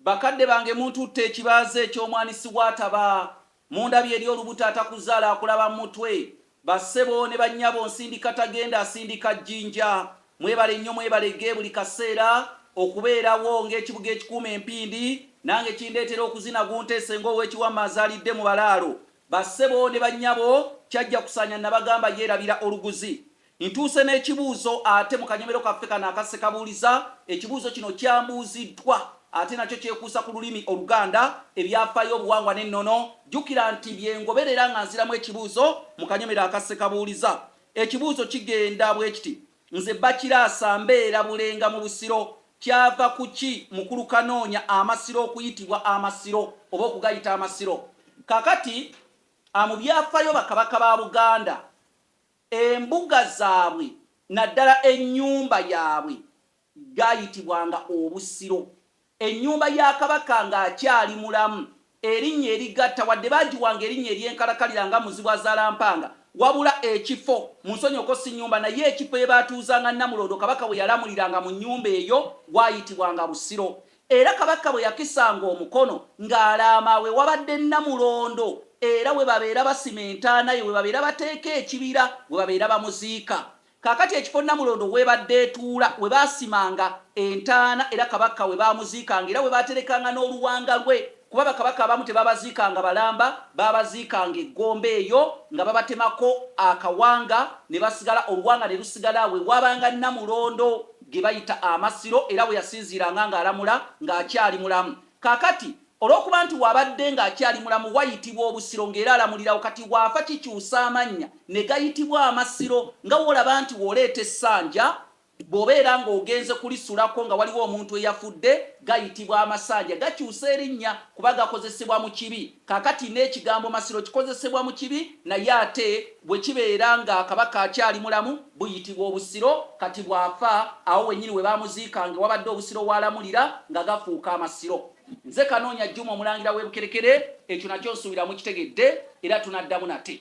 Bakadde bange muntutte ekibaazi eky'omwani siwaataba, mundabye eri olubuto atakuzaala akulaba mutwe, ba ssebo ne ba nnyabo nsindika tagenda asindika jjinja, mwebale nnyo mwebale ge buli kaseera okubeerawo ng'ekibuga ekikuuma empindi, nange kindeetera okuzina gunteese ng'ow'eki Wamma azaalidde mu balaalo, ba ssebo ne ba nnyabo kyajja kusaanya nabagamba yeerabira oluguzi, Ntuuse n'ekibuuzo ate mu kanyomero kaffe kano aka Ssekabuuliza. Ekibuuzo kino kyambuuziddwa ate nakyo kyekuusa ku lulimi Oluganda, ebyafaayo, obuwangwa n'ennono. Jjukira nti bye ngoberera nga nziramu ekibuuzo mu kanyomero aka Ssekabuuliza. Ekibuuzo kigenda bwe kiti, Nze Bakiraasa mbeera Bulenga mu Busiro. Kyava ku ki Mukulu Kanoonya Amasiro okuyitibwa Amasiro oba okugayita Amasiro? Kaakati, a Mu byafaayo bakabaka ba Buganda, Embuga zaabwe naddala ennyumba yaabwe gaayitibwanga Obusiro. Ennyumba ya Kabaka ng'akyali mulamu erinnya erigatta wadde baagiwanga erinnya ery'enkalakalira nga Muzibwazaalampanga wabula ekifo, munsonyiweko si nnyumba naye ekifo we baatuuzanga Nnamulondo Kabaka we yalamuliranga mu nnyumba eyo gwayitibwanga Busiro. Era Kabaka bwe yakisanga omukono ng'alaama we wabadde Nnamulondo era we babeera basima entaana ye, we babeera bateeka ekibira we babeera bamuziika. Kaakati ekifo Nnamulondo w'ebadde etuula we baasimanga entaana era Kabaka we baamuziikanga era we baaterekanga n'oluwanga lwe. kuba bakabaka abamu tebabaziikanga balamba, baabaziikanga e Gomba eyo nga babatemako akawanga ne basigala, oluwanga ne lusigala we waabanga Nnamulondo ge bayita Amasiro era we yasinziiranga ng'alamula ng'akyali mulamu. Kaakati olw'okuba nti w'abadde ng'akyali mulamu wayitibwa Obusiro ng'era alamulirawo, kati bw'afa kikyusa amannya ne gayitibwa Amasiro nga w'olaba nti w'oleeta essanja Bw'obeera ng'ogenze kulisulako nga waliwo omuntu eyafudde, gayitibwa amasanja. Gakyusa erinnya kuba gakozesebwa mu kibi. Kaakati, n'ekigambo Masiro kikozesebwa mu kibi, naye ate bwe kibeera nga Kabaka akyali mulamu, buyitibwa Obusiro. Kati bw'afa, awo wennyini we baamuziikanga ewabadde Obusiro w'alamulira, nga gafuuka Amasiro. Nze Kanoonya Juma, Omulangira w'e Bukerekere. Ekyo nakyo nsuubira mukitegedde, era tunaddamu nate.